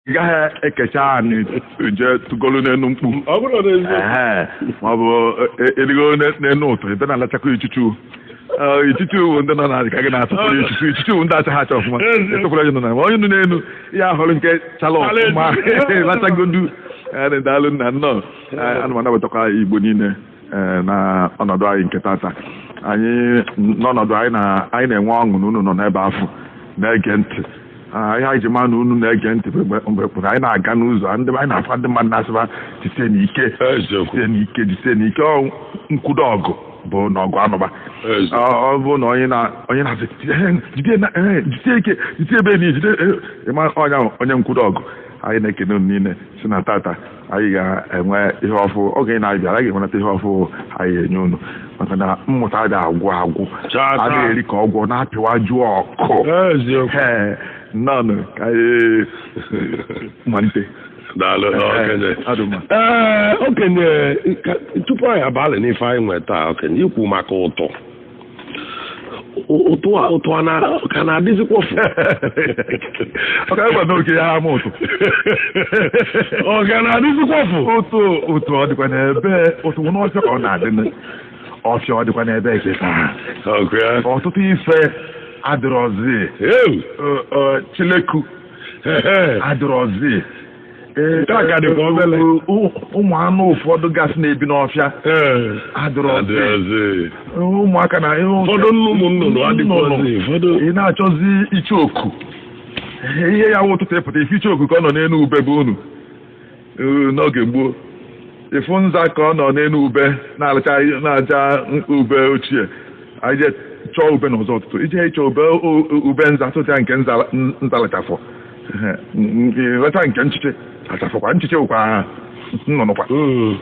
ị gaghị ekecha ani jee tụgolu n'enu mkpu ọ bụrụ na eziokwu Ehe, ma ọ bụ e rigo n'enu ụtụ ebe na-alachakwa ichuchu Ee, ichuchu bụ ndị nọ n'ala ka gị na-atụpụrụ ichuchu ichuchu bụ ndị achaghị acha ọfụma ị tụpụrụ onye nọ n'ala ma onye nọ n'enu ya họlụ nke chala ọfụma lachagodu Ee, daalụ nna nnọọ Ee, ana m anabatakwa Igbo niile ee eh, na ọnọdụ anyị nke tata anyị n'ọnọdụ anyị anyị na-enwe ọṅụ na unu nọ n'ebe afụ na-ege ntị ah, ihe anyị ji ma na unu na-ege ntị mgbe kpụrụ anyị na-aga n'ụzọ ndị anyị na-afụ ndị mmadụ na-asịba jisienụ ike jisienụ ike jisienụ ike nkwudo ọgụ bụ na ọgụ anụba ọ bụ na onye na-asị jisie ike jide ebe niile jide eh, ịma onye nkwudo ọgụ anyị na-ekene unu niile si na tata anyị ga-enwe ihe ọfụ oge ị na-abịa anyị ga-enwenata ihe ọfụ anyị enye unu maka na mmụta ada agwụ agwụ Chaa, chaa. a na-eri ka ọ gwụ na-apịwa jụọ ọkụ eziokwu Ee, nnọọ ka anyị malite daalụ Ee, okenye adị mma. ee okenye ka- tupu anyị abalụ n'ife anyị nwe taa okenye i kwu maka ụtụ ụtụ a ụtụ a na ka na-adịzikwa ọka ịgwa na oke ya ama ụtụ ọ ga na-adịzikwa fụ ụtụ ụtụ ọ dịkwa n'ebee ụtụ n'ọfịa ka ọ na-adị n- ọfịa ọ dịkwa n'ebee kịta ọkụ ya ọtụtụ ife adịrọzi ewu Ọ- ọ, chileku adịrọzi Ee, Nke a ka dịkwa obele. ụ- ụ- ụmụ anụ ụfọdụ gasị na-ebi n'ọfịa Ee, adịrọ ọfịa. adịghịzi. ụmụaka na ihe ụfọdụ Ụfọdụ nnu ụmụ nnụnụ adịghịzi. Ụfọdụ ị na-achọzi icheoku ihe ya wụ ụtụtụ ị pụta ị fụ icheoku ka ọ nọ n'enu ube be unu Ee, n'oge gboo ị fụ nza ka ọ nọ n'enu ube na-alacha na-aja ube ochie anyị je chọọ ube n'ụzọ ụtụtụ i je ịchọ ube ube nza tụta nke nza nza lachafọ ị racha nke nchiche lachafọkwa nchiche wụkwa nnụnụkwa hmm.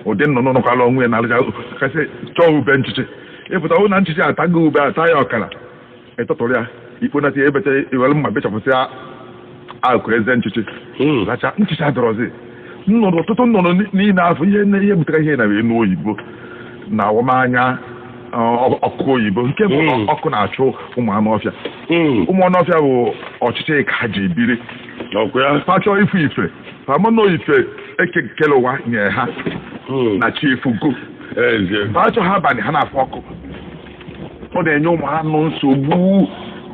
ụdị nnụnụ nọkwalụ onwe ya na-alachakasịcha ube nchiche ị pụta hụ na nchiche atago ube ata ya ọkara ị tụtụrụ ya i kponata ya ebeta i were mma bechapụsịa akụ eze nchiche hmm. racha nchiche adịrọzi nnụnụ ọtụtụ nnụnụ niile afụ ihe nne ihe butere ihe na enu oyibo na awamanya ọkụ oyibo nke bụ hmm. ọkụ na-achụ ụmụ anụ ọfịa hmm. ụmụ anụ ọfịa bụ ọchịchị ka ha ji biri ha achọọ ife ife ha mana ife Eke kele ụwa nye ha hmm. na chi efogo ha achọha abalị ha na-afụ ọkụ ọ na-enye ụmụ anụ nsogbu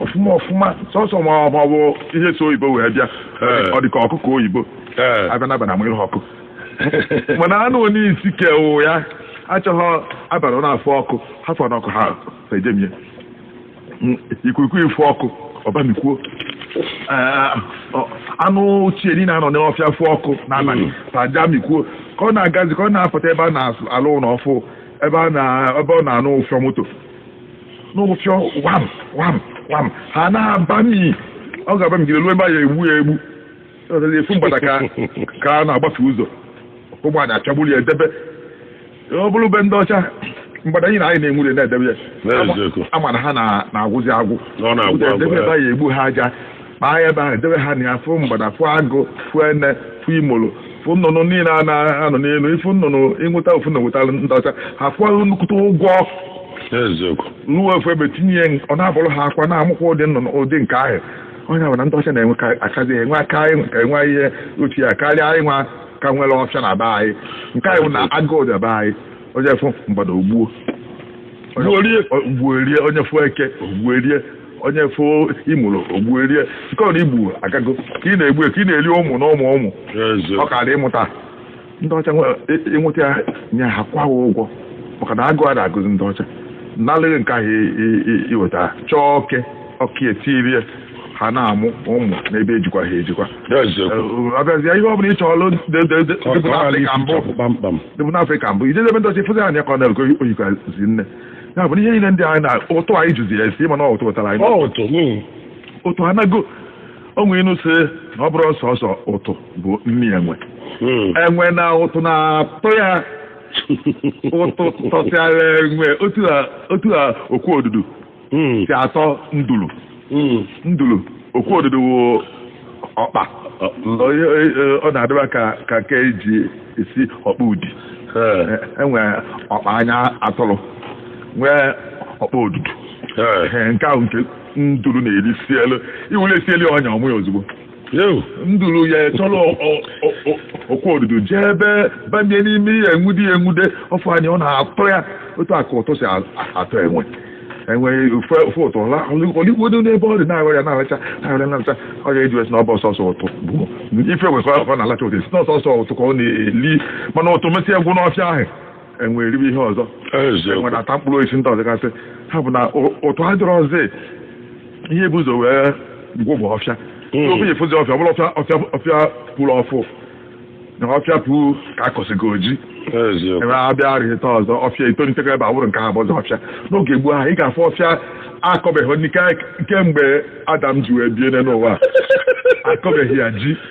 ọfụma ọfụma sọsọ ma ọ bụ ihe so oyibo wee bịa eh. ọ dị ka ọkụkọ oyibo eh. a bịa n'abalị a mụrụ ha ọkụ mana anụ onye isi kewụ ya achọghị abalị na-afụ ọkụ ha fụrụ ọkụ ha ejemie ikwikwii fụ ọkụ ọ bamikwuo eh, anụ ochie niile anọ n'ọfịa fụ ọkụ n'abalị hmm. ha ejemikwuo ka ọ na-agazi ka ọ na-apụta ebe a na-alụ ụlọ ọfụụ ebe a na ebe ọ na-anụ ụfịọ moto n'ụfịọ wam wam wam ha na-abami ọ ga-abamigide ruo ebe a ya-egbu ya egbu Ọ sịrị, a fụ mgbada ka ka a na-agbafe ụzọ ụgbọala achagburu ya edebe ọ bụrụ be ndị ọcha mgbada anyị na anyị na-enwure na-edebe ya N'eziokwu. ị ma na ha na- na-agwụzi agwụ Ọ na-agwụ agwụ, Edebe ebe a ya-egbu ha aja kpaa ya ebe ahụ debe ha na ya fụ mgbada fụ agụ fụ ene fụ imolo fụ nnụnụ niile a na-anọ n'elu ị fụ nnụnụ i nweta ofu na-enweta ndị ọcha ha kwụọ nnukwute ụgwọ eziokwu rụọ ofu ebe tinye ya ọ na-abụrụ ha akwa na-amụkwa ụdị nnụnụ ụdị nke ahụ onye ahụ na ndị ọcha na-enwe ka- akazi enwe aka anyị ka enwe ihe ochie a karịa anyị nwa ka nwere ọfịa na be anyị nke anyị bụ na agụụ dị be anyị onye fụ mgbada o gbuo Gbuo rie. gbuo rie onye fụ eke o gbuo rie onye fụ imụrụ o gbuo rie nke ọ na-egbu agago ka ị na-egbu ya, ka ị na-eri ụmụ na ụmụ ụmụ ọ ka dị ịmụta ndị ọcha nwe- ị- i nweta ya nye ha kwụa ha ụgwọ maka na agụụ a na-agụzi ndị ọcha nalịghị nke ahụ i- i- i- i weta chọọ oke ọka e tinye ya ha na-amụ ụmụ n'ebe ejikwa ha ejikwa abịazịa ihe ọ bụla ị chọọlụ dịbụ n'afrịka mbụ kpamkpam dịbụ n'afrịka mbụ i jezie be ndị ọcha ị fụzi anya ka ọ na-e- ka o yikwazi nne ya bụ na ihe niile ndị anyị na ụtụ anyị jụzi ya esi ị ma na ọ ụtụ ụtara anyị Ọ ụtụ. mm. ụtụ anago o nwe inu sị na ọ bụrụ sọsọ ụtụ bụ nri enwe Mm. enwe na ụtụ na-atọ ya ụtụ tọsịara enwe otu a otu a okwu odudu Mm. si atọ nduru hmm. ndulu okwu odudu wụ ọkpa ọ na-adịba ka ka nke e ji esi ọkpa Udi e nwee ọkpa anya atụrụ nwee ọkpa odudu nke ahụ nke nduru na-eri sielu i were sielu ọnya ọ ma ya ozugbo Ewu, nduru ya-achọrọ ọ- ọ- ọ- ọ- okwu odudu jee ebe banye n'ime ihe enwude ya enwude ọ fụ anya ọ na-atọ ya otu a ka ụtụ si a- atọ enwe enwe ọ fụ ọ fụ ụtụ ọ lịgolu n'ebe ọ dị na-aghọ ya na-aracha na-aracha na-aracha ọ ya e ji wee sị na ọ bụ sọsọ ụtụ ị fụ enwe ka ọ na-alacha ụtụ sị na ọ sọsọ ụtụ ka ọ na-eli mana ụtụ mesịa gwụ n'ọfịa ahụ enwe eribe ihe ọzọ enwe na-ata mkpụrụ osisi ndị ọzọ gasị ha bụ na ụtụ adịrọ ọzọ ihe bu ụzọ wee gwụ bụ ọfịa hmm. obi efuzi ọfịa ọbụla ọfịa ọfịa pụrụ ọfụụ na ọfịa pụrụ ka akọsịgo ji ebe abịa arịta ọzọ ọfịa itolitekwa ebe awụrụ nke ha bụzi ọfịa n'oge gboo ahụ ị ga-afụ ọfịa akọbeghị kemgbe Adam ji wee bie n'ụwa akọbeghị ya ji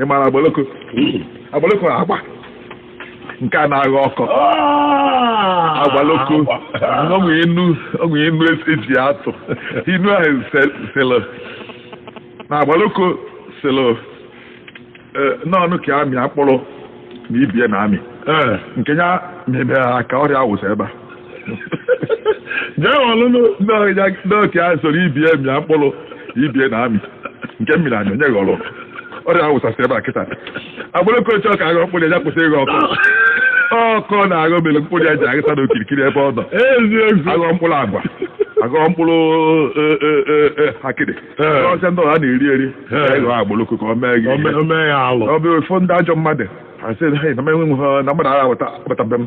ị mara agbaloko agbaloko agba nke a na-agha ọkọ agbaloko o nwe inu o nwe inu eji atụ inu ahụ sịlụ na agbaloko sịlụ n'ọnụ ka amịa mkpụrụ na ibie na-amị nke ya mebere ha ka ọrịa awụsa ebe a jee ọlụ n'oke a soro ibie mịa mkpụrụ ibie na-amị nke m mịrị amị onye ghọrọ ọrịa awụsasị ebe a kịta agbaloko chọọ ka aghọ mkpụrụ ya kwụsị ịghọ ọkọ ọ na-aghọ mere mkpụrụ ya ji aghịsa n'okirikiri ebe ọ nọ eziokwu aghọ mkpụrụ agwa aghọ mkpụrụ e- e- e- e, akịdị Ee. ọsịa ndị ọha na-eri eri Ee. ị ghọọ agbaloko o mee gị ihe. Ome- ome ya alụ ọ bụ ofu ndị ajọ mmadụ asị na mmadụ aghọta agbatabe m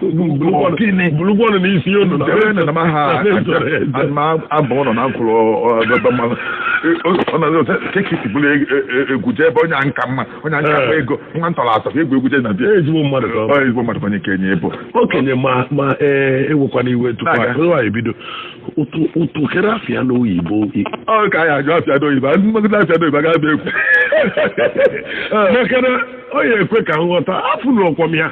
bulugwu ọnụ n'isi unu ma ha ma abụ ụlọ na nkwụrụ ọdọdọ mmanụ kekisi bụrụ egwu jee ebe onye nka mma onye nka mma ego nwa ntọrọ atọ egwu egwu jee na bịa ezigbo mmadụ ka ezigbo mmadụ ka onye kenye ebo okenye ma ma ewekwana iwe tupu anyị bido ụtụ kedụ afa ya n'oyibo ọ ka anyị ajụ afa ya n'oyibo m maghịdị afa ya n'oyibo agaghị abịa ekwu makana ọ ya ekwe ka nghọta afụ n'ọkwọm ya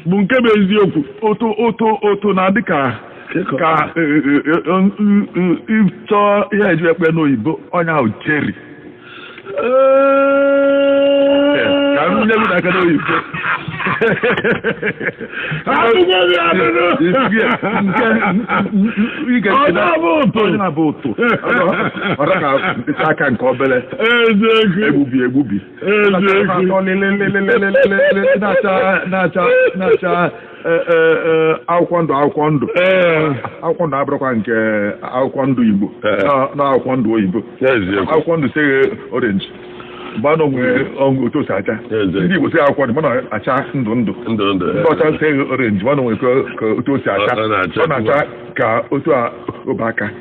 bụ nke bụ eziokwu ụtụ ụtụ ụtụ na-adị ka ka ịchọọ ihe eji akpọ ya n'oyibo onye ahụ cheri ka m nye gị n'aka n'oyibo onye na-abụ ụtụ ọ dịka aka nke obere egbubi egbubi na-acha akwụkwọ ndụ akwụkwọ ndụ akwụkwọ ndụ abụrụkwa nke akwụkwọ ndụ igbo na akwụkwọ ndụ oyibo akwụkwọ ndụ sị ya green mana o nwe otu o si acha ndị igbo sị ya akwụkwọ ndụ mana acha ndụ ndụ ndị ọcha sị ya green mana o nwere ka otu o si acha ọ na-acha ka otu ụbaka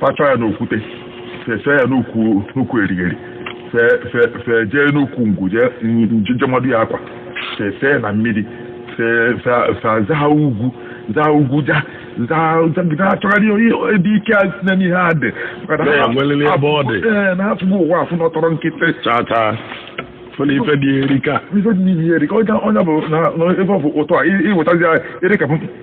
fa chọọ ya n'okwute fee ya n'ukwu erigheri fee jee n'ukwu ngwu jee mmadụ ya akwa fee na mmiri fee ha ugwu zaa ugwu ja na-achọgharị ebe ike a site n'ihe a dị na afụgo ụwa afụ nọtọrọ nkịtị ife dị erika ife dị n'ihe erika onye bụ na ebe ọ bụ ụtọ a iwetazi erika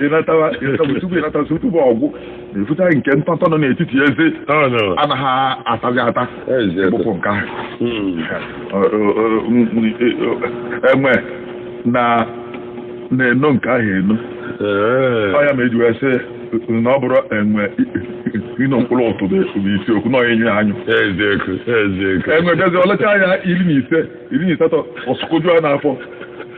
ịnatawa ịnatawa tupu ịnata so tupu ọgwụ ịfụta nke ntọntọ nọ n'etiti eze Ọ nọ. anaghị atazi ata Eze. ịgbụpụ nke ahụ Mm. enwe na na-eno nke ahụ eno Ee. ọ ya ma eji wee sị na ọ bụrọ enwe ino mkpụrụ ụtụ bụ isi okwu na ọ ịnyụ ya anyụ Eziokwu, eziokwu. enwe bịazi ọ lacha ya iri na ise iri na asatọ ọ sụkọju ya n'afọ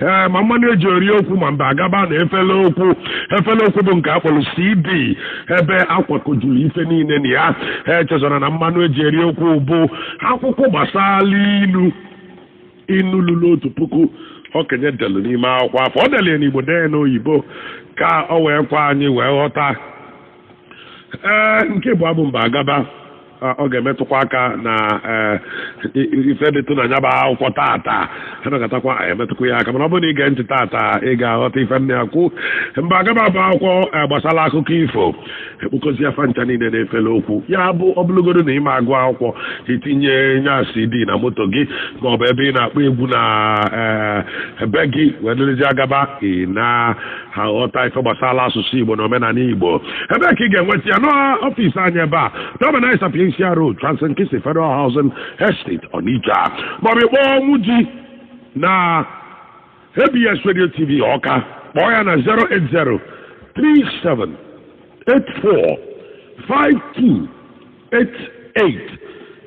ee ma mmanụ eji eri okwu ma mbe agaba na efele okwu efele okwu bụ nke a kpọrọ cd ebe akwakọjuru ife niile na ya echezọla na mmanụ eji eri okwu bụ akwụkwọ gbasara ilu inu lulu otu puku okenye delu n'ime akwụkwọ afụ o delu ya n'igbo dee n'oyibo ka o wee kwe anyị wee ghọta ee nke ịbụa bụ mbe agaba a, ọ ga-emetụkwa aka na ee, i- i- ife dịtụ na nya bụ akwụkwọ tata anagatakwa emetụkwa ya aka mana ọ bụrụ na ị gee ntị tata ị ga-aghọta ife m na-ekwu mbe agaba bụ akwụkwọ ee, gbasara akụkọ ifo ekpokọzia fa ncha niile na efele okwu ya bụ ọ bụrụgodu na ị ma agụ akwụkwọ i tinye nya cd na moto gị ma ọ bụ ebe ị na-akpọ egwu na ee, be gị wee dịrịzi agaba ị na aghọta ife gbasara asụsụ Igbo na omenala Igbo ebe ka ị ga-enweta ya n'ọfịs anyị ebe a Dominic Sapientia Road Trans-Nkisi Federal Housing Estate Onitsha maọbụ ị kpọọ Ọnwụji na ABS Radio TV Ọka kpọọ ya na 080 37 84 52 88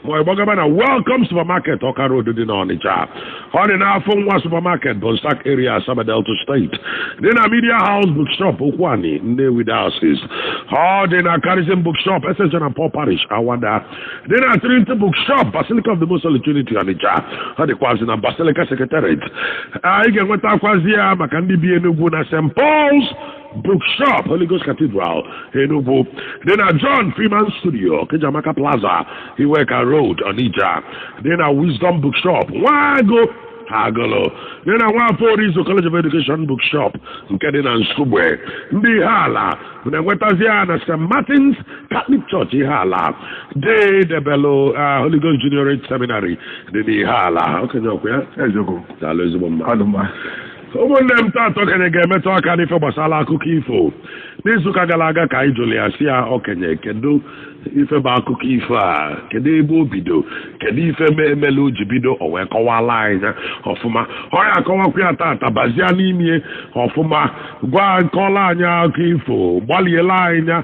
ma ị gbagaba na welcome supermarket ọka road dị n'ọnịcha ọ dị n'afọ nwa supermarket bonsaac area asaba delta steeti dị na media house bookshop okwuani nnewi diocese ọ dị na charism bookshop ss john and paul parish awada dị na trinity bookshop basilica of the most holy trinity ọnịcha ọ dịkwazị na basilica secretariat ị ga-enwetakwazi ya maka ndị bi enugwu na st pauls Bookshop Holy Ghost Cathedral Enugu dị na John Freeman Studio Okejamaka Plaza Iweka Road Onitsha dị na Wisdom Bookshop Nwagụ Agụlụ dị na Nwafọ Orizu College of Education Bookshop nke dị na Nsugbe ndị Ihiala na-enwetazi ya na St. Martin's Catholic Church Ihiala dị debelu ah, Holy Ghost Juniorate Seminary dị n'Ihiala okenye ọkwa ya eziokwu daalụ ezigbo mmadụ ọma ụmụnne m taata okenye ga-emetụ aka n'ife gbasara akụkọ ifo n'izuụka gara aga ka anyị jụrụ ya sị ya okenye kedu ife bụ akụkọ ifo a kedu ebe o bido kedu ife melụ o ji bido o wee kọwala anyị ya ọfụma ọ ya-akọwakwa ya taata bazie n'ime ọfụma gwa nkọla anyị akụkọ ifo gbaliela anyị ya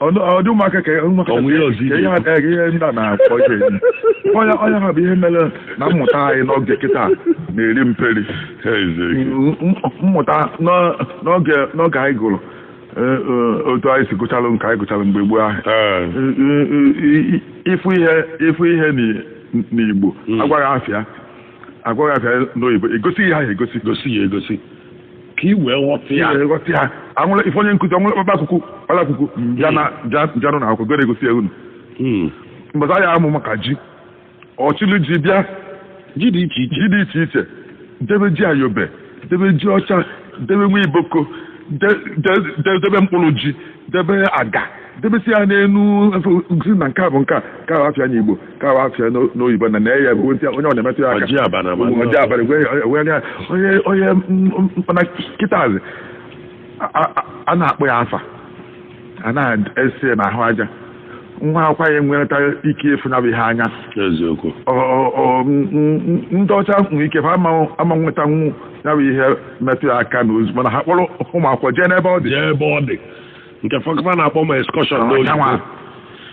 ọ dị ụmụaka ka ụmụaka Ọnwụ ihe ọzọ ka ihe ha- eh, ihe ndị a na-akpọ ihe onyonyo ha bụ ihe mere na mmụta anyị n'oge kịta na-eri mperi M- m- mmụta n'ọ- n'oge n'oge anyị gụrụ eh, eh, otu anyị si gụchalụ nke anyị gụchalụ mgbe gboo ahụ Eh, eh, eh, eh, ị fụ ihe ị fụ ihe n'i- n'igbo a gwa gị afa ya a gwa gị afa ya n'oyibo e gosi ihe ahụ egosi gosi ya egosi ka i wee ghọta ya ihe ghọta ya anwụla ife onye nkụzi ọbụla kpakpa akwụkwọ kpara akwụkwọ ya na ja- janụ na akwụkwọ gere egosi ya unu Mm. mgbe a ya-amụ maka ji ọ chịlụ ji bịa ji dị iche iche ji dị iche iche debe ji ayobe debe ji ọcha debe nwa iboko de- de- de- debe mkpụrụ ji debe aga debesi ya n'enu efe sị na nke a bụ nke a nke a wụ afa ya n'igbo nke a wụ afa ya n'o- n'oyibo na na ya bụ onye ọ na-emetụ ya aka Ọ ji abana ma ndị Ọ ji abana gwe- gwe- gwe- onye onye m- m- mana kịtazi a- a- a na-akpọ ya afa a na-ese n'ahụ aja nwa akwụkwọ anyị enwereta ike ịfụ ya bụ ihe anya eziokwu Ọ- ọ- ọ- m- m- m- ndị ọcha nwere ike fa ama ama nwetanwu ya bụ ihe metụ ya aka na ozu mana ha kpọrọ ụmụ akwụkwọ jee n'ebe ọ dị jee ebe ọ dị nke ụfọdụ fa na-akpọ ma excursion Ọ, n'oyibo yanwa.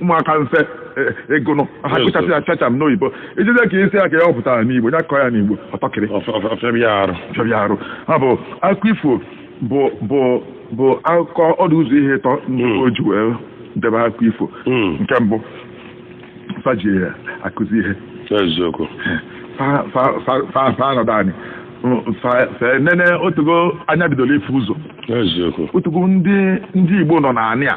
ụmụaka mfe e- ego nọ ha Yes, kụchasị sir. ya chacha m n'oyibo i jide ka isi ya ka ya ọ pụtara n'igbo ya kọọ ya n'igbo ọtọkịrị Ọf- ọf- ọfịa bịa arụ chọrọ arụ ha bụ akụkọ ifo bụ bụ bụ akụkọ ọ dụ ụzọ ihe ịtọ ndị Mm. o ji wee debe akụkọ ifo Mm. nke mbụ fa ji ya akụzi ihe eziokwu fa fa- fa- fa- fa anọdụ anị Mm, fa- fa nene o tego anya bidoro ịfụ ụzọ eziokwu o tego ndị ndị igbo nọ n'anị a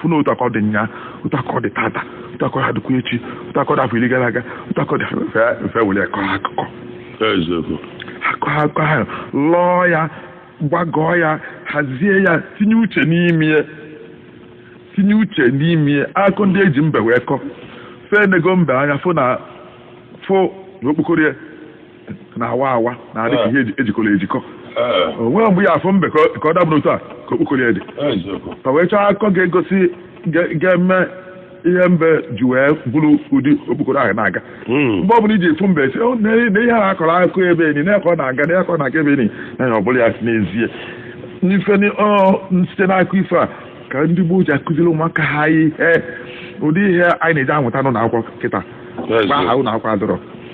fụ na otu a ka ọ dị nnyaa otu a ka ọ dị tata otu a ka ọ ga-adịkwa echi otu a ka ọ dị afọ iri gara aga otu a ka ọ dị mfe mfe were kọọ akụkọ eziokwu akụkọ ahụ lọọ ya gbagọọ ya hazie ya tinye uche n'ime ya tinye uche n'ime ya akụkọ ndị e ji mbe wee kọọ fa enego mbe anya fụ na fụ na okpokoro ya na-awa awa na-adị ka ihe eji- ejikọrọ ejikọ Ee, o nwere mgbe ị ya-afụ mbe ka ọ- ka ọ dabụrụ otu a ka okpokoro ya dị eziokwu. ka wee chọọ akụkọ ga-egosi ga- ga-eme ihe mbe ji wee bụrụ ụdị okpokoro ahụ na-aga Mm. mgbe ọ bụla i ji afụ mbe sị "Oh, na na ihe a a kọrọ akụkọ ebe enyi na ya ka ọ na-aga na ya ka ọ na-aga ebe enyi na ya ọ bụla ya n'ezie n'ife ni- ọ, site n'akụkọ ifo a ka ndị gboo ji akụziri ụmụaka ha ihe ụdị ihe anyị na-eje amụta n'ụlọ akwụkwọ kịta mgbe ahụ Eziokwu. ụlọ akwụkwọ adịrọ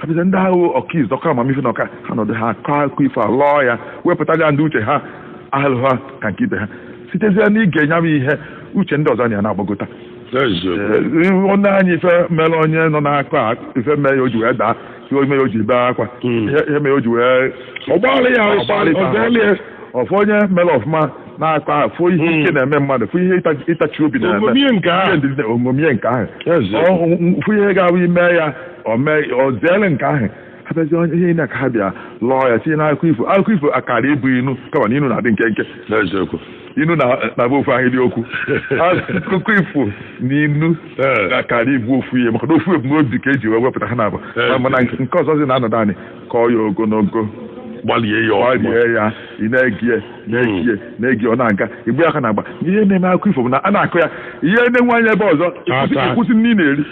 a bịazie ndị ahụ ọkaizu ọka amamife na ọka ha nọdụ ha akọ akụkọ ifo a lọọ ya wepụta ya ndị uche ha ahụ ha ka nke ibe ha sitezie n'ige nya bụ ihe uche ndị ọzọ na ya na-agbagota onye anyị ife mere onye nọ n'akụkọ a ife mee ya o ji wee daa ihe mee ya o ji bee akwa ihe mee ya o ji wee ọgbalị ya ọgbalị ọgbalị ya ọ fụ onye mere ọfụma n'akụkọ ahụ fụ ihe ike na-eme mmadụ fụ ihe ịta- ịtachi obi na-eme O ṅomie nke ahụ. Ihe ndidi na- o ṅomie nke ahụ Ọ- fụ ihe ga-abụ i mee ya o zeere nke ahụ a bịazi onye ihe na ka ha bịa lọọ ya tinye n'akụkọ ifo akụkọ ifo akara ịbụ inu kama na inu na-adị nkenke n'eziokwu inu na-abụ ofu ahịrị okwu akụkọ ifo na inu akara ịbụ ofu ihe maka na ofu ebumnobi ka e ji wee wepụta ha na-abụ mana nke ọzọ zi na-anọdụ anyị kọọ ya ogologo gbalie ya gbalie ya ị na-ege ya na-ege ya na-ege ọ na-aga ị gba aka n'agba ihe na-eme akụkọ ifo bụ na a na-akọ ya ị na-ene anya ebe ọzọ ị kwụsị nri ị na-eri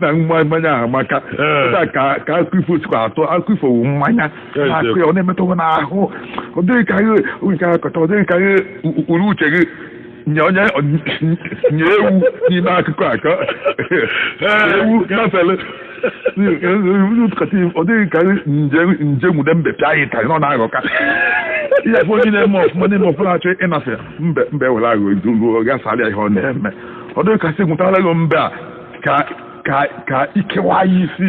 na mmanya ahụ maka ka akụkọ ifo sikwa atọ akụkọ ifo wu mmanya na-akọ ya ọ na-emetụ gị n'ahụ ọ dị gị ka ihe nke akọta ọ dị gị ka ihe ụkpụrụ uche gị nye onye nye ewu n'ime akụkọ a ka ewu gafere ọ dị gị ka m je nwude mbe pịa ya ịtarị na ọ na-aghọka ihe ebe onye na-eme ọfụma na-eme ọfụma na-achọ ịnafe mbe mbe were aghụghọ ghasarịa ihe ọ na-eme ọ dị gị ka sị nwụtara gị mbe a ka ka ka i kewa ya isi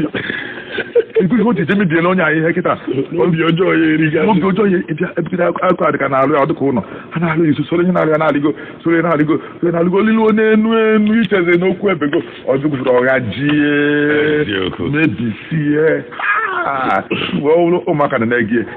ego ihe o ji je mebiela onye anyị ihe kịta obi ọjọọ ya eriga obi ọjọọ ya ebịa ebigide akụkọ a dịka na-alụ ya ọ dịka ụlọ ha na-alụ ya i so soro ihe na-alụ ya na-alịgo soro ya na-alịgo soro ya na-alịgo ọ lịluo n'enu enu i chezie n'okwu ebego ọdụgụfụrụ ọgha jie Eziokwu. mebisie Ah, mgbe ọ bụrụ ụmụaka na-ege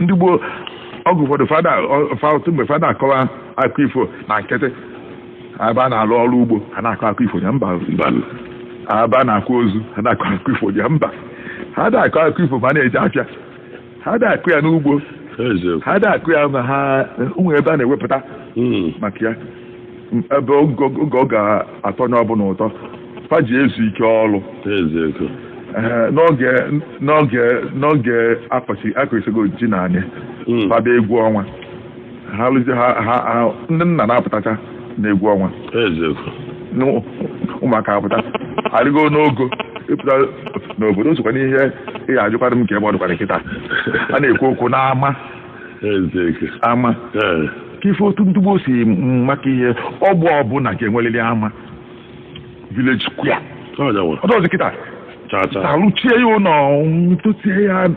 ndị gboo oge ụfọdụ fa da ọ- fa- otu mgbe fa da-akọkwa akụkọ ifo na nkịtị a ba na-alụ ọrụ ugbo ha na-akọ akụkọ ifo ya mba Mbanụ. a ba na-akwa ozu ha na-akọ akụkọ ifo ya mba ha da-akọ akụkọ ifo ma a na-eje afịa ha da-akọ ya n'ugbo Eziokwu. ha da-akọ ya ma ha o nwe ebe a na-ewepụta Mm. maka ya ebe oge ọ ga-atọ onye ọbụla ụtọ fa ji ezu ike ọrụ eziokwu Ee, n'oge n'oge n'oge a kọsị a kọsịgo ji n'anị Mm. fa aba egwu ọnwa ha lụzi ha ha ha- ndị nna na-apụtacha na egwu ọnwa eziokwu na ụ- ụmụaka apụta arịgo n'ogo ị pụta n'obodo o sokwa n'ihe ị ga-ajụkwara m kee ebe ọ dịkwanụ kịta a na-ekwu okwu n'ama ama ka ife otu ndị gboo si maka ihe ogbe ọbụla ga-enwerịrị ama village square ọ dịrọzi kịta a rụchie ya ụlọ ntụtie ya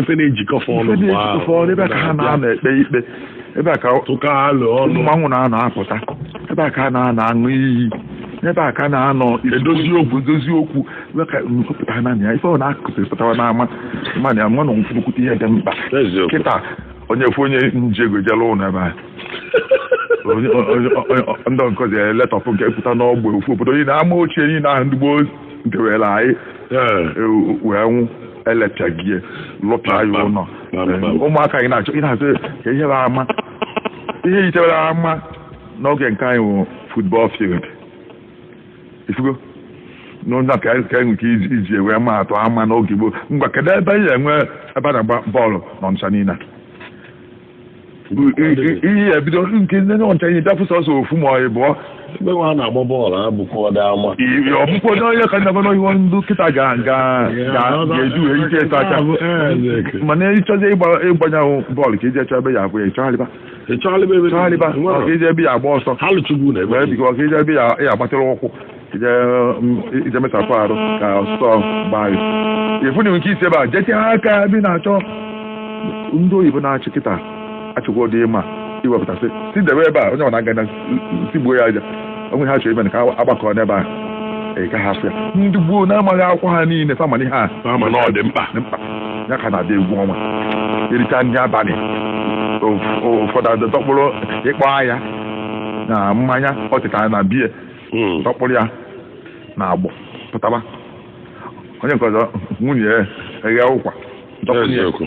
ife na-ejikọ fa ọnụ ebe a ka ha na-anọ ekpe ikpe ebe a ka mmanwụ na-anọ apụta ebe a ka ha na-anọ aṅụ iyi ebe a ka a na-anọ edozi okwu Wee ka unu kọpụta naanị ya ife ọ na-akụsịrị pụtawa n'ama mmadụ ya mmanụ nkwukwute ihe dị mkpa Eziokwu. kịta onye fụ onye njego jela ụlọ ebe a Onye- onye- onye- ndị nkọzi ya letọpụ nke pụta n'ọgbe ofu obodo niile ama ochie niile ahụ ndị gboo nkewere anyị Ee. e, wee nwụ elechagie lụpịa ya Kpam, ụlọ kpam, kpam. Ee, ụmụaka anyị na-achọ ị na-asị ka ihe bụ ama ihe yitebere ama n'oge nke anyị wụ football field ifugo n'ụzọ ka anyị ka anyị nke iji iji wee ma atụ ama n'oge gboo ngwa kedu ebe anyị nwe ebe a na-agba bọọlụ na Ọnịcha niile a? iyi ya ebido nke ndị Ọnịcha ihe bịafụ sọsọ ofu ma ọ ịbụọ ebe nwa a na-agba bọọlụ a bụkwa ọdọ ama ọbụkwa onye onye ka ndaba n'ihu ndị kịta ga ga ga ga-eji wee ike ịta aka mana ị chọzi ịgba ịgbanye bọọlụ ka iji echọ ebe ya abụ ya ị chọgharịba Ị chọọla ebe ebe Chọọla ebe a, Nwere. ọ ka i je ebe ị ya-agba ọsọ ha lụchugbu na ebe wee bigo ka i je ebe ị ya ya-agbatịrị ụkwụ ije mm, i je mesapụ arụ ka ọsọ gbaa gị ị fụ na nke isi ebe a jesie aka ebe ị na-achọ ndị oyibo na-achị kịta achịkwa ụdị ịma iwepụtasị si debe ebe a onye ọ na-aga na tigbuo ya aja o nwe ihe a chọrọ ime na ka a gbakọọ n'ebe a ị gaghị afụ ya ndị gboo na-amaghị akwụkwọ ha niile fa ma na ihe a Ha ma na ọ dị mkpa. dị mkpa ya ka na-adị egwu ọnwa e richa nri abalị ụf- ụfọdụ adọkpụrụ ịkpọ ahịa na mmanya ọ tetara na biya Mm. dọkpụrụ ya na agbọ pụtaba onye nke ọzọ nwunye ya eghee ụkwa dọkpụrụ ya Eziokwu.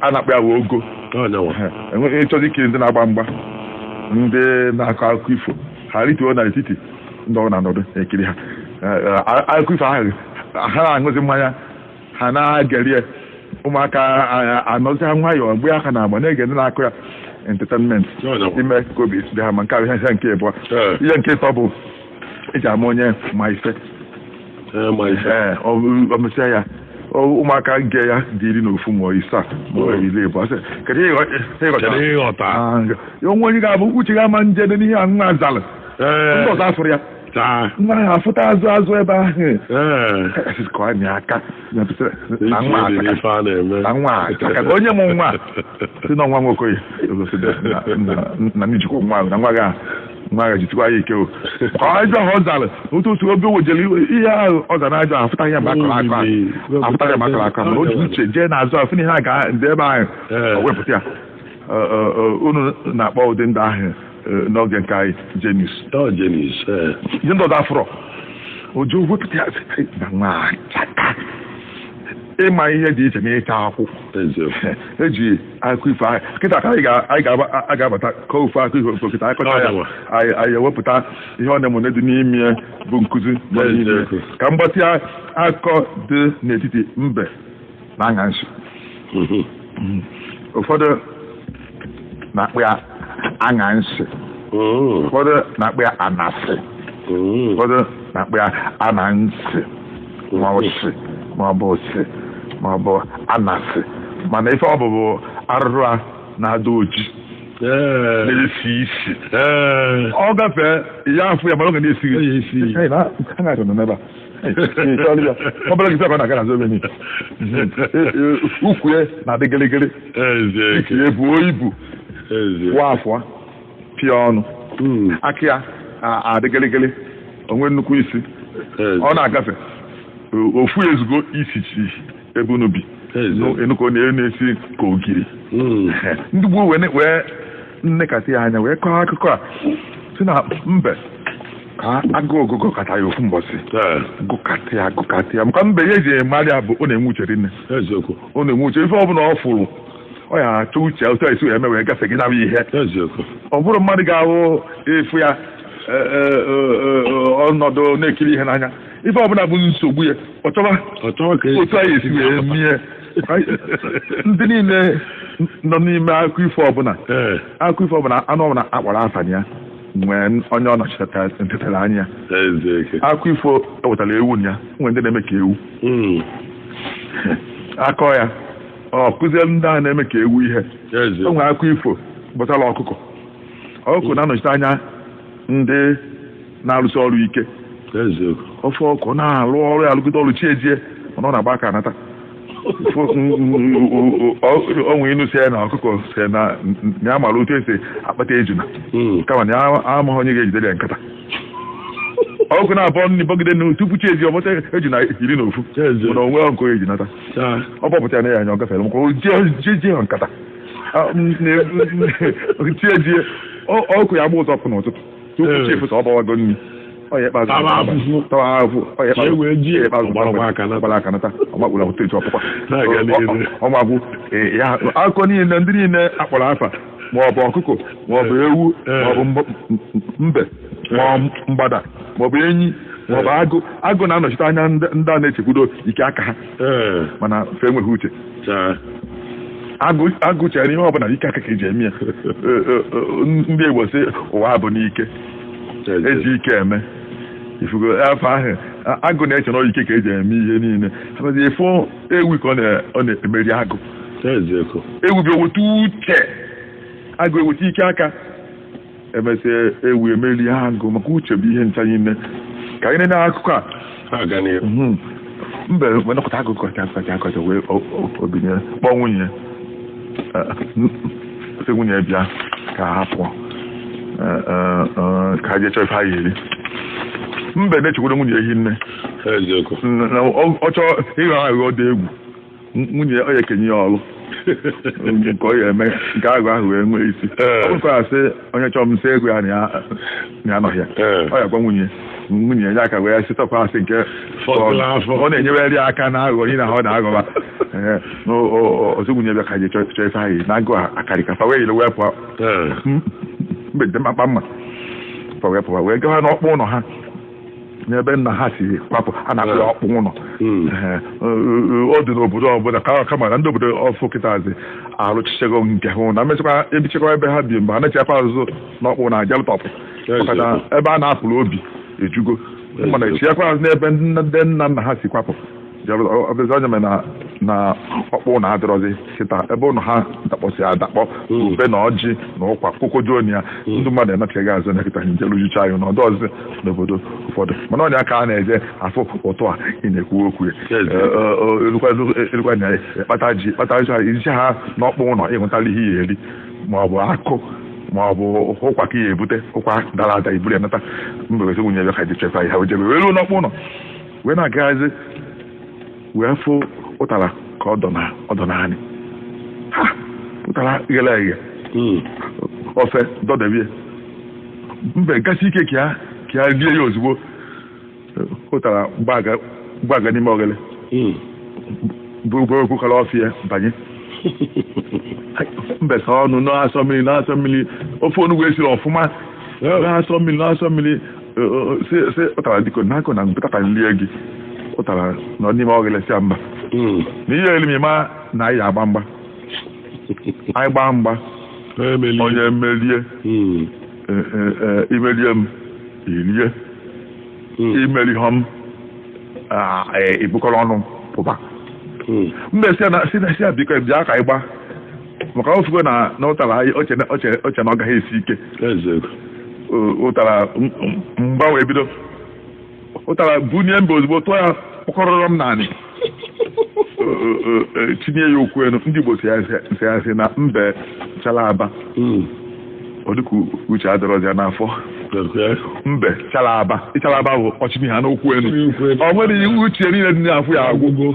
a na-akpọ ya wee ogo ị chọzi ikiri ndị na-agba mgba ndị na-akọ akụkọ ifo ha rituo na etiti ndị ọzọ na-anọdụ ekiri ha akụkọ ifo ahụ ha na-aṅụzi mmanya ha na-egere ya ụmụaka anọzi ha nwayọọ gba aka na agba na-ege ndị na-akọ ya entertainment ime ka obi dị ha mma nke ahụ ihe nke abụọ ihe nke ịtọ bụ e ji ama onye ma ife Ee, ma ife. ee ọ bụ- ọ mesịa ya ọ- ụmụaka nke ya dị iri na ofu ma ọ isaa ma ọ iri ịbụa sị kedu ihe ịghọ- ihe ị ghọtara? Kedu ihe ị ghọta? Ah, nke- ya o nwe onye ga-abụ uche ya ama njede n'ihe a nwa a zalụ Ee, ndị ọzọ afụrụ ya taa. nwa ahụ afụta azụ azụ ebe ahụ Ee. Ka anyị aka onye mụ nwa sị na nwa m nwoke na jikwa nwa ahụ na nwa gị ahụ nwa gị jitikwa ya ike ka ajọ ahụ ọ zara otu otu oge wejere ihe ahụ ọ zara ajọ ahụ afụtaghị ya mgbe a kọrọ akọ afụtaghị ya mgbe a kọrọ akọ mana o ji uche jee n'azụ ahụ fụ na ihe a ga-adị ebe ahụ wepụta ya unu na-akpọ ụdị ndị ahụ Eh, n'oge nke anyị jenis ọ jenis eh. ihe ndị ọzọ afọrọ oji wepụta ya site na nwa achaka ịma ihe dị iche n'ịcha akwụ eziokwu eji akọ ifo anyị kịta ka anyị ga- anyị ga- a ga-abata kọọ ofu akụkọ ifo kịta anyị kọcha ya Ọdawa. anyị anyị ewepụta ihe ọ na-emone dị n'ime ya bụ nkụzi nọ n'ime ya. Eziokwu. ka m gbatịa akọ dị n'etiti mbe na aṅansị ụfọdụ na-akpọ ya aṅansị ụfọdụ na-akpọ ya anasị ụfọdụ na-akpọ ya anansị ma ọ sị ma ọ bụ sị ma ọ bụ anasị mana ife ọ bụ bụ arụrụ a na-ada oji na-esi isi ọ gafee ị ya-afụ ya mana ọ ga na-esi Hey, na- ha na-achọ nọ n'ebe a. ọbụla gị saba na gara zobe ni ukwu ya na-adị gịrịgịrị ike ya buo ibu wa afọ pịa ọnụ aka ya adị gịrịgịrị o nwee nnukwu isi ọ na-agafe ofu ezigbo isi chi ebe unu bi enuko na-esi ka ogiri ndị gboo wee nekata ya anya wee kọọ akụkọ a sị na mbe ka agụụ gụgụkata ya ofu mbọsị Ee, gụkata ya gụkata ya maka mbe ihe eji amara ya bụ ọ na-enwe uche rinne eziokwu ọ na-enwe uche ife ọbụla ọ fụrụ ọ ya-achọ uche otu esi wee mewe gafe gị nabụ ihe eziokwu ọ bụrụ mmadụ ga-ahụ ifu ya e, e, e, e, ọ nọdụ na-ekiri ihe n'anya ife ọbụla bụ nsogbu ya ọ chọba ọ chọwa ka otu a ya-esi wee mie ndị niile nọ n'ime akụkọ ifo ọbụla ee akụkọ ifo ọbụla anụ ọbụla akpọrọ afa ya nwee onye ọ nọchitere ntetara anya eziokwu akụkọ ifo wetara ewu na ya o nwere ndị na-eme ka ewu Mm. a kọọ ya ọ kụziere ndị ahụ na-eme ka ewu ihe eze o nwere akụkọ ifo gbasara ọkụkọ ọkụkọ na-anọchite anya ndị na-arụsi ọrụ ike ofu ọkụkọ na-arụ ọrụ ya arụgide ọrụ chi ejie mana ọ na-agba aka anata o nwe inu sị na ọkụkọ sị na ya mara otu esi akpata ejuna hmm. kama na ya amaghị onye ga-ejidere ya nkata ọkụkọ na-abọ nri bọgide nri tupu chi ejie ọ bọta ejuna iri na ofu mana o nwerọ nke o ji nata ọ bọpụta nee ya anya ọ gafere maka o jighị nkata chi ejie ọkụkọ ya-agba ụzọ ọkụ n'ụtụtụ tupu Ee. chi efo ọ gbawago nri ọ ya ikpeazụ Tawa afụfụ. tawa afụfụ ọ ya Ka e wee ji ikpeazụ ọ gbarakwa aka nata. ọ gbara aka nata ọgbakpụrụ ahụ teji ọ pụkwa Na-aga n'ihu. ọ ma-agwụ ya akụkọ niile ndị niile akpọrọ afa ma ọ bụ ọkụkọ ma ọ bụ ewu Ee. ma ọ bụ mb- m- m- mbe ma ọ bụ mgbada ma ọ bụ enyi ma ọ bụ agụ agụ na-anọchite anya ndị ndị a na-echekwudo ike aka ha ee mana fe enweghị uche chaa Agụ- agụ chere ihe ọbụla ike aka ka eji eme ya Ee, ee, ee, ndị Igbo sị ụwa bụ n'ike chaa eji ike eme ịfụgo afọ ahụ a- agụ na-eche na ọ ike ka eji eme ihe niile abazi ịfụ ewu ka ọ na- ọ na-emeri agụ chaa eziokwu ewu bịa weta uche agụ eweta ike aka emesịa ewu emelie agụ maka uche bụ ihe ncha niile ka anyị na-enye akụkọ a na-aga n'ihu Mhm. mbe wee nọkata akụkọ kacha akụkọ kacha akụkọ wee o- o- o binie kpọọ nwunye Eh, n- sị nwunye ya bịa ka ha pụọ Eh, eh, eh, ka ha jee chọọ ife ha ga-eri mbe na-echekwara nwunye ehi nne eziokwu na ọ ọ chọọ ịghọ aghụghọ dị egwu nwunye ya ọ ya ekenye ya ọrụ nke ọ ya eme nke aghụghọ ahụ wee nwee isi Ee. ọ bụrụ ka asị onye chọọ m sị gwa ya na ya anọghị ya Ee. ọ ya gwa nwunye enye ya aka wee sịtọpụ asị nke Fọdụrụ afọ. ọ na-enyewere ya aka na aghụghọ ihe na ọ na-aghọba Ee, na o- o- ọ sị nwunye bịa ka je chọọ chọọ ife anyị na agụụ akarịka fa wee yiri wee pụọ Ee. mbe ji mkpa mma fa wee pụọ wee gawa n'ọkpụ ụlọ ha n'ebe nna ha si kwapụ a na-akpọ ya ọkpụ ụlọ Hmm. Ehe, o- o- ọ dị n'obodo ọbụla ka kama na ndị obodo ọfụ kịtazi arụchichego nke ha na mechakwa ebichakwa ebe ha bi mgbe ha na-echiakwa azụ n'ọkpụnọ ajalụtọpụ Yes, maka na yes. ebe a na-apụrụ obi ejugo mana echiakwa azụ n'ebe nna- ndị nna nna ha si kwapụ ọ bụzi ya mere na na ọkpụnọ adịrọzi kịta ebe ụnọ ha dakpọsi adakpọ ube na ọjị na ụkwa kokojuon ya ndị mmadụ enachaghị azụ na kịta njelu jucha anyị na ọ dịrọzi n'obodo ụfọdụ mana ọ ya ka a na-eje afụ ụtụ a ị na-ekwu okwu elukwa na kpata ji kpata ji iji ha n'ọkpụ ụlọ ịhụtala ihe ya eri ma ọ bụ akụ ma ọ bụ ụkwa ka ya ebute ụkwa dara ada iburu ya nata mbe werezie nwunye ya ka je chọkwa ihe o jebe wee luo n'ọkpụ ụlọ wee na-agaghazi wee fụ ụtara ka ọ dọ n'anị ahụ ụtara ghere eghe hmm. ofe dọdebe ya mbe gasị ike ka ya rie ya ozugbo ụtara gbaga n'ime oghere hmm. bu- o bukọrọ ofe ya banye mbe saa ọnụ na-asọ mmiri na-asọ mmiri ofe onugbu esiri ọfụma na-asọ mmiri na-asọ mmiri sị sị ụtara biko na agụụ na-agụ m pụta ka m lie gị ụtara nọ n'ime oghele sị ya mba Mm. na ị ya-eli m ma na anyị agba mgba anyị gbaa mgba Emeli. onye merie Mm. e, e, e, imerie m irie Mm. imerihụ m a, e, ibukọrọ ọnụ pụba Mm. mbe sị ya na sị na sị ya biko bịa ka anyị gbaa maka ọ sịkwa na na ụtara anyị o che na- o che o che na ọ gaghị esi ike eziokwu O- ụtara m- m- mgba wee bido ụtara bunie mbe ozugbo tụọ ya kpọkọrọrọm n'anị O- o- o- e, chịnie ya ụkwụ elu ndị Igbo si ya si- si ya si na mbe chala aba Mm. ọ dịka uche adịrọzi ya n'afọ Okay. mbe chala aba ịchala aba bụ ọ chịnie aka n'ụkwụ elu Ụkwụ elu. ọ nwere ihe uche niile dị n'afọ ya agwụ Agwụgo.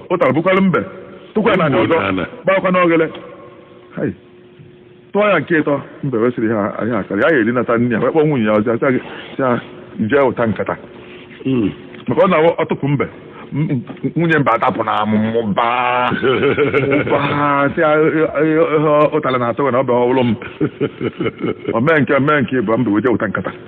ụtara bukwara mbe tụkwa n'ana ọzọ gbakwa n'oghere tụọ ya nke ịtọ mbe wee sị ha ihe a akarị ya erinata nne ya wee kpọọ nwunye ya ọzọ asị ya jee wota nkata hmm. maka ọ na-atụpụ mbe nwunye mbe adapụ na amụ mụba sị ụtara na-atụ gị na ọ bụrụ m o mee nke mee nke ịbụọ mbe wee jee wota nkata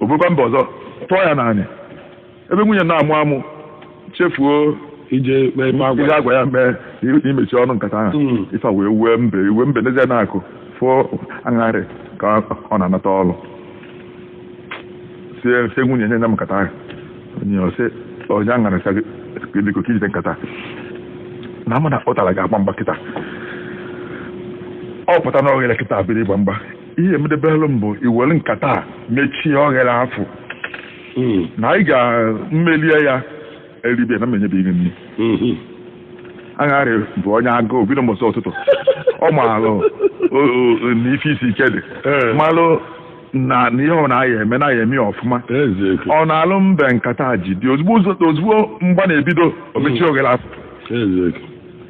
o burukwa mbe ọzọ tụọ ya n'anị ebe nwunye na-amụ amụ chefuo ije mee ife a gwa ihe a gwa ya mee i- imechi ọnụ nkata ahụ Mm. ife a wee wee mbe iwe mbe nezie n'akụkụ fụ aṅarị ka ọ na-anata ọrụ sie sie nwunye nye nye m nkata ahụ o nye ọ sị o nye aṅarị sị ya biko ka i jide nkata na mụ na ụtara ga-agba mgba kịta ọ pụta na oghere kịta biri ịgba mgba ihe emedebelụ m bụ i were nkata a mechie oghere afụ Mm. na anyị ga mmelie ya eribie na m enyebe gị nri Mhm. agharị bụ onye agụụ bido mbọsị ụtụtụ ọ maalụ o- o- na ife isi ike dị Ee. malụ na na ihe ọ na-aya eme na ya eme ya ọfụma Eziokwu. ọ naalụ mbe nkata jide ozugbo ụzọ- ozugbo mgba na-ebido o mechie oghere afụ Eziokwu.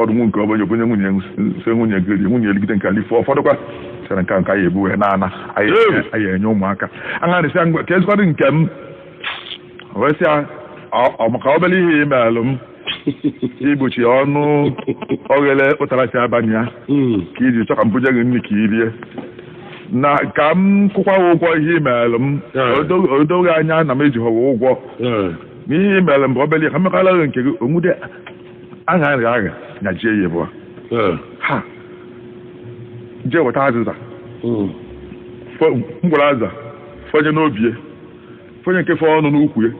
ụfọdụ nwu nke ọbanye o bunye nwunye sị nwunye ya rie nwunye eligide nke a lifọ ọ fọdụkwa sịrị nke nke anyị ebu wee na-ana anyị enye ụmụaka aṅarị sị a ngwa ka ezikwadị nke m wee sị a maka obere ihe i meelụ m igbochi ọnụ oghere ụtara si abanye ya hmm. ka i ji chọ ka m buje gị nri ka i rie na ka m kwụkwa ụgwọ ihe i meelụ m o do gị anya na m ejighọwa ụgwọ na ihe i meelụ m bụ obere ihe ka m mekọrọ gị nke gị o nwude agha agha agha nya jie ya agbụ eh. ha jee weta azịza hmm. mgbara azịza fọnye n'obi ya fọnye nke fọnụ n'ukwu ya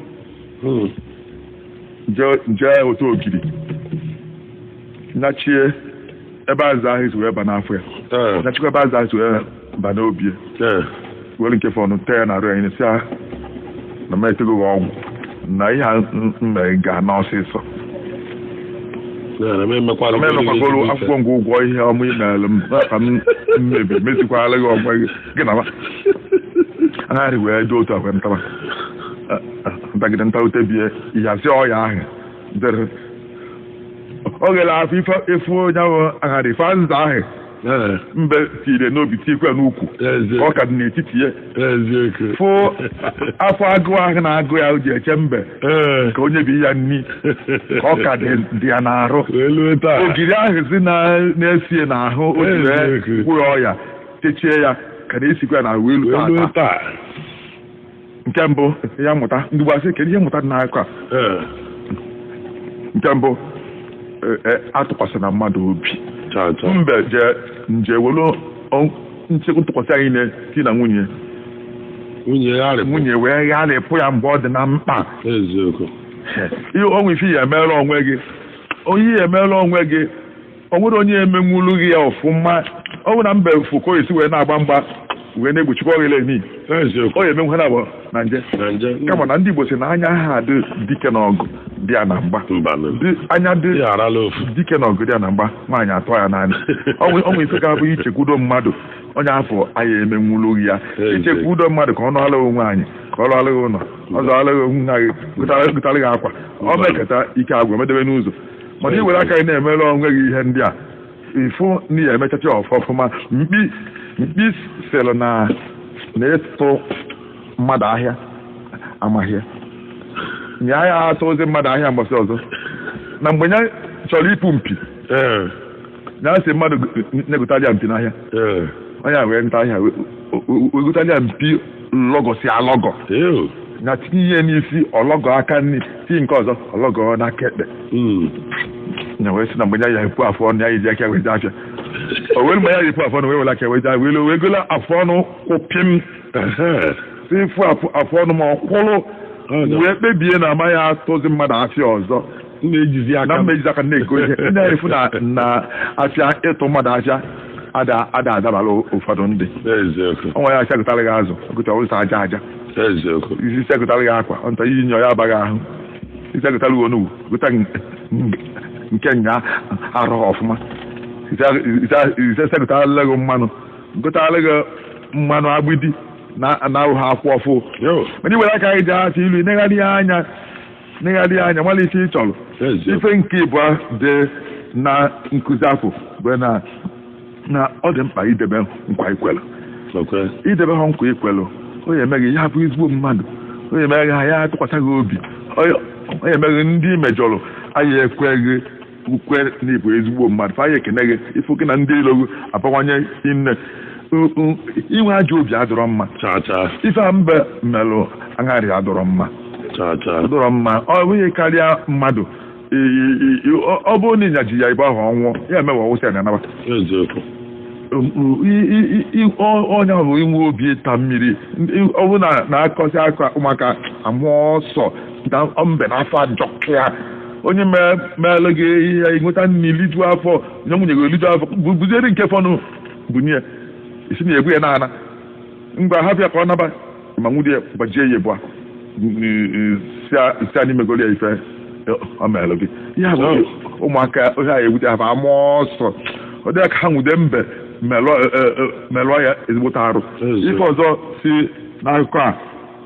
hmm. jee wota ogiri nyachie ebe azịza ahụ esi wee ba n'afọ ya eh. nyachikwa ebe azịza ahụ esi wee ba n'obi were nke fọnụ tee ya na arụ anyị sị a na m etego gị ọgwụ na ihe a mere ga-ana ọsịsọ m emekwagoro akwụkwa m gị ụgwọ ihe ọma i mere m ka m mmebi mezikwala gị ọgwa gị gị na ma agharị wee dị otu akwa ntaba ntagide ntarute bie ihe asị ọya ahụ dere oghere afụ ife e fọnyere agharị ife nza ahụ Ee, mbe tiire n'obi tiekwa ya n'ukwu eze- ọ ka dị n'etiti ya eziokwu. fụ afọ agụụ ahụ na-agụ ya o ji eche mbe Ee. ka o nyebi ya nni ka ọ ka dị dị ya n'arụ Wee lue taa. ogiri ahụ si na- na-esi ya n'ahụ o ji wee Eziokwu. gwụrụ ọya techie ya ka na-esikwa ya n'arụ wee Wee lue lue taa taa. nke mbụ ihe mmụta ndị gbasị kedu ihe mmụta dị n'akụkọ a ee nke mbụ e- e, atụkwasịna mmadụ obi chaa chaa mbe je nje were ọ- nchekwa ntụkwasị anyị na di na nwunye nwunye ya agharịpụ nwunye wee gharịpụ ya mgbe ọ dị na mkpa eziokwu ihe o nwere ife ị ya emeela onwe gị onye ya emeela onwe gị o nwere onye emenwulu gị ya ọfụma ọ bụ na mbe fụ ka o si wee na-agba mgba wee na-egbochikwa ọghịla emi eziokwu ọ ya emenwu ha na abụọ na nje na nje kama na ndị Igbo sị na anya ha dị dike n'ọgụ dị ya na mgba mbanụ Dị anya dị ya arala ofu dike n'ọgụ dị ya na mgba nwaanyị atụọ ya n'anị ọ nwere- o nwere ife ga-abụ ichekwudo mmadụ onye afụ a ya emenwulu ya Ee, ichekwudo mmadụ ka ọ nọọla onwe anyị ka ọ lụọla gị ụlọ ọ zọọla gị onwe gị gotara gị akwa o mekata ike agwụ ya medebe n'ụzọ mana i were aka gị na-emere onwe gị ihe ndị a ị fụ na ị ya-emechacha ọfụma mkpi mkpi sịrị na na ịtụ mmadụ ahịa amaghị nye ahịa atụzi mmadụ ahịa gbasị ọzọ na mgbe ya chọrọ ipu mpi ya asị mmadụ na-egotalị ya mpi n'ahịa ee onye a wee nata ahịa wee gotalị ya mpi lọgọsị alọgọ ee na tinye ihe n'isi ọ lọgọ aka nri tinye nke ọzọ ọ lọgọ n'aka ekpe Mm. na wee sị na mgbe ya epu afọ ọnụ ya eji aka wee jee afịa o wee mgbe ya epu afọ ọnụ wee were aka wee jee wee wee gola afọ ọnụ kwụ pịm Ehe. si fụ afọ afọ ọnụ ma ọ kwụrụ Ọ ga- wee kpebie na amaghị atụzi mmadụ afịa ọzọ na-ejizi aka na mma ejizi aka na-ego ihe ndị anyị fụ na n'afịa ịtụ mmadụ afịa ada ada adabara ụfọdụ ndị eziokwu ọnwa ya asị ya gotara gị azụ gota ụzọ aja aja eziokwu ị sị ya gotara gị akwa ọ nata i yinye ya abaghị ahụ ị sị ya gotara gị onugbu gota nke nya arụ ọfụma ị sị e gotala gị mmanụ gotara gị mmanụ agbidi na na ahụ ha akwụ ọfụ Yo. mana i were aka gị jee achọ i lue ị negharịa anya negharịa anya mara ife ị chọrọ ife nke ịbụa dị na nkuzi afụ bụ na na ọ dị mkpa idebe nkwa ikwelu idebe ha nkwa ikwelu ọ ya-eme gị ị ya-abụ ezigbo mmadụ ọ ya-eme gị ha ya-atụkwasị gị obi ọ ya-eme gị ndị i mejọrọ a ya-ekwe gị ukwe na ịbụ ezigbo mmadụ fa anyị ekene gị ị fụkwa na ndị ilo gị abawanye inne U- u- inwe ajọ obi adịrọ mma cha cha ife a mbe melụ aṅarị adịrọ mma cha cha adịrọ mma ọ bụghị karịa mmadụ I- i- i- i- ọ- ọ bụrụ na ịnyaji ya ebe ahụ ọ nwụọ ya emewe ọwụsị ya na anabata eziokwu onye ahụ bụ inwe obi ịta mmiri Ndị- ọ bụrụ na na-akọsị akọ ụmụaka amụọ ọsọ na mbe na afọ ajọka onye meelụ gị ihe i nweta nri liju afọ nye nwunye gị liju afọ buzieri nke fọnụ bunye ị si na-egbu ya n'ana ngwa hapụ ya ka ọ naba ma nwunye ya gbajie ya ebu a sị anyị megoro ya ife ọ meelụ gị ya bụ ụmụaka ihe a ewute ha ama ọsọ ọ dị ha ka ha nwude mbe melụọ ya ezigbote arụ ife ọzọ si n'akụkọ a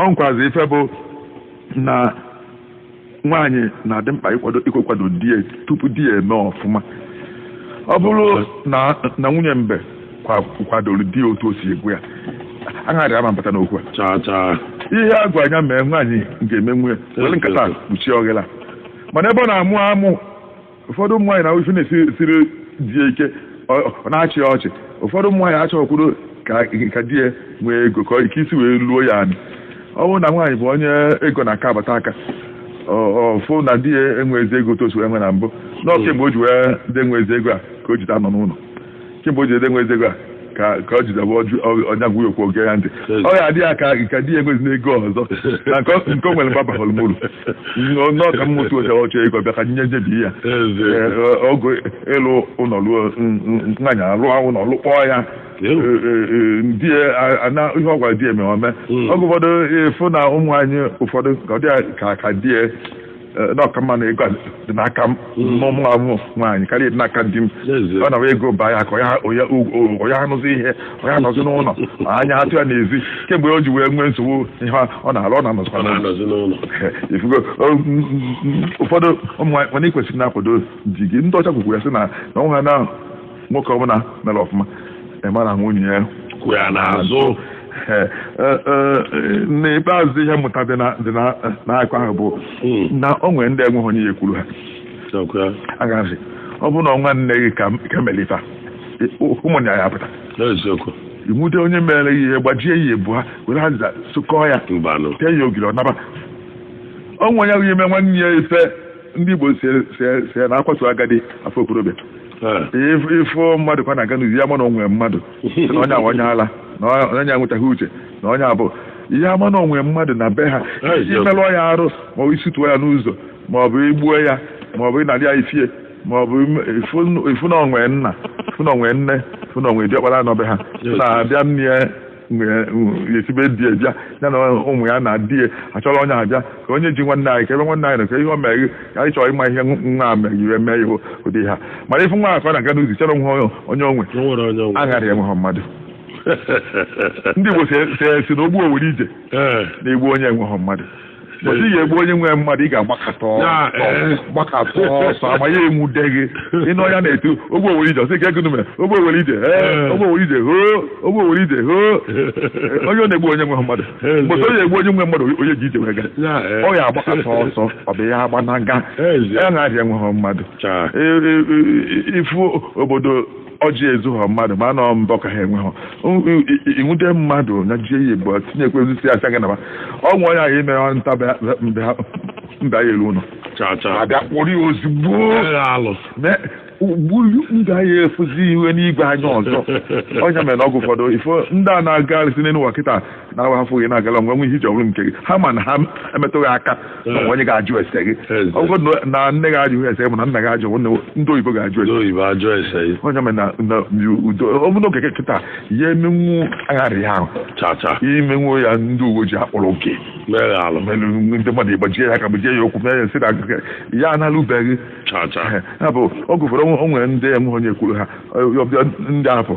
ọ nkuzi ife bụ na nwaanyị na-adị mkpa ịkwado ịkwado di ya tupu di ya eme ọfụma ọ bụrụ na nwunye mbe kwadoro di ya otu o si egwu ya aṅarị ama mbata n'okwu a ihe a gwara ya mee nwaanyị ga-eme nwunye were nkata kpuchie oghele mana ebe ọ na-amụ amụ ụfọdụ ụmụ nwaanyị na-afụ ife na-esiri di ya ike ọ na-achị ọchị ụfọdụ ụmụ nwaanyị achọkwurọ ka di ya nwee ego ka ike isi wee luo ya anị ọ bụrụ na nwaanyị bụ onye ego na-aka abata aka ọ fụ na di ya enwezi ego otu o si enwe na mbụ na ọ kemgbe o ji wee dị enwezi ego a ka o jide anọ n'ụlọ kemgbe o ji ede enwezi ego a ka ka ọ jidebe ọjụ ọnya gwụ okwu o gee ya ntị ọ ya adị ya ka ka di ya enwezina ego ọzọ na nke ọ- nke o nwere baba hụrụ mụrụ nọọ ka mmụta ocha ọ chọọ ego bịa ka nye njebi ya Ee, ọ- ọ bụ ịlụ ụlọ lụọ n- n- nwaanyị alụọ ụlọ lụkpọọ ya Ee, ee, ee, di ya a- ana ihe ọ gwara di ya mee o mee Mm. oge ụfọdụ ị fụ na ụmụ nwaanyị ụfọdụ ka ọ dị ya ka ka di ya Eh, na ọ ka mma na ego a dị n'aka m mụ bụ nwaanyị karịa dị n'aka di m N'ezie. ọ na-awụ ego baa ya aka ọ ya- ọ ya- o- ọ ya anụzi ihe ọ ya anọzi n'ụlọ anya atụ ya n'ezi kemgbe o ji wee nwee nsogbu ihe ọ na-alụ ọ na-anọzikwa ọ n'ụlọ na-anọzi n'ụlọ ifugo o- m- m- ụfọdụ ụmụ nwaanyị mana ị kwesịrị na-akwado di gị ndị ọcha kwukwara sị na na ọ ha na nwoke ọbụla mere ọfụma ị mara na nwunye ya kwụ ya n'azụ Ee, ee, ee, n'ikpeazụ ihe mmụta dị na- dị na- n'akụkọ ahụ bụ Mm. na o nwere ndị enweghị onye ya ekwuru ha Nakwa, aṅarị ọ bụrụ na ọ nwanne gị ka ka mere ife a, ị- ụmụnne ya apụta n'eziokwu nwude onye mere ihe gbajie ya ebu ha were ha za- sụkọọ ya mbanụ tee ya ogiri ọ naba ọ nwe onye ga-eme nwanne ya ife ndị Igbo si si- si na a kwatuo agadi a fụ okorobịa ị fụ mmadụ kwa na-aga n'uzi ị ya-ama na o nwe mmadụ na onye awa onye ala na onye enwetaghị uche na onye abụ ihe ama na o nwe mmadụ na be ha i melụọ ya arụ ma ọ bụ ị sụtuo ya n'ụzọ ma ọ bụ i gbuo ya ma ọ bụ ị narị ya ife ya ma ọ bụ ị fụ na o nwe nna ị fụ na o nwe nne ị fụ na o nwe diọkpara nọ be ha na-abịa nne e si be di ya bịa ya na ụmụ ya na di ya achọrọ onye abịa ka onye ji nwanne anyị ka ebe nwanne anyị nọ ka ihe o mere ka anyị chọrọ ịma ihe nwa a mere ire mee ihe ụdị ha mana ị fụ nwa ka ọ na-aga n'uzi chọrọ nwa onye o nwe O nwere onye ọgwụ. aghara ya enweghị mmadụ ndị Igbo si- si si na ogbu owere ije Ee. na-egbu onye enweghị mmadụ ị ga-egbu onye nwe mmadụ ị ga-agbakọta ọsọ Ya, eh. gbakọta ọsọ ama ya enwude gị ị nụ onye na-etu ogbu owere ije ọ sị ka ego nume ogbu owere ije ee Eh. ogbu owere ije hoo ogbu owere ije hoo onye ọ na-egbu onye nwe mmadụ Eh, mgbe onye egbu onye nwe mmadụ onye ji ije wee gaa Ya, eh. ọ ya-agbakọta ọsọ ọ bụ ya agbanaga Eh, ya na-ahịa enweghị mmadụ Cha. E- e- e- ị fụ obodo ọjị ezughọ mmadụ ma nọ mbọ ka ha enwe ha inwude mmadụ na jie ya egbu tinyekwa osisi asị aga naba o nwe onye ahụ ime ọ nta bịa- bịa- bịa- mba ya elu ụlọ cha cha abịa kpọrọ ya ozugbo Ee, alụ Ne- ugburu ndị anyị efuzi iwe n'igwe anya ọzọ ọ nya mere na oge ụfọdụ ị fụ ndị a na-agarịsị n'elu ụwa kịta na-awa afọ gị na-agala onwe nwe ihe i ji ọ bụrụ nke gị ha ma na ha emetụghị aka na o nwe onye ga-ajụ ese gị Eze. ọ bụrụ na- na nne gị ajụghị ese gị ma na nna gị ajụ nwanne gị, ndị oyibo ga-ajụ ese oyibo ajụ ese gị ọ nya mere na na udo ọ bụrụ na Okeke kịta ya emenwu agharị ahụ chacha imenwu ya ndị uwe ojii akpọrọ oke mere alụ melu ndị mmadụ i gbajie ya aka gbajie ya ụkwụ mee ya nsị na akụkọ ya analụbeghị chacha ya bụ oge ụfọdụ o nwere ndị enweghị onye kwuru ha ọ- ọ- ndị afọ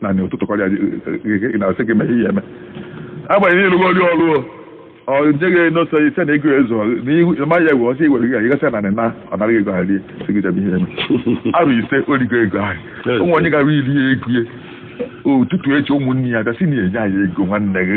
na na ụtụtụ kọrịa gị na-asị gị mee ihe eme agbanyeghị ị lụgo ọrụ ọrụ o ọ nyeghị n'otu onye ị sị na ego ezo na ma ya gwe ọsị igwere gị gasị na na ọ nara ego ahụ rie sị gị jebe ihe eme arụ ị sị o rigo ego ahụ ụmụ onye gara iri ya ego ya ụtụtụ echi ụmụnne ya bịa sị na enye anyị ego nwanne gị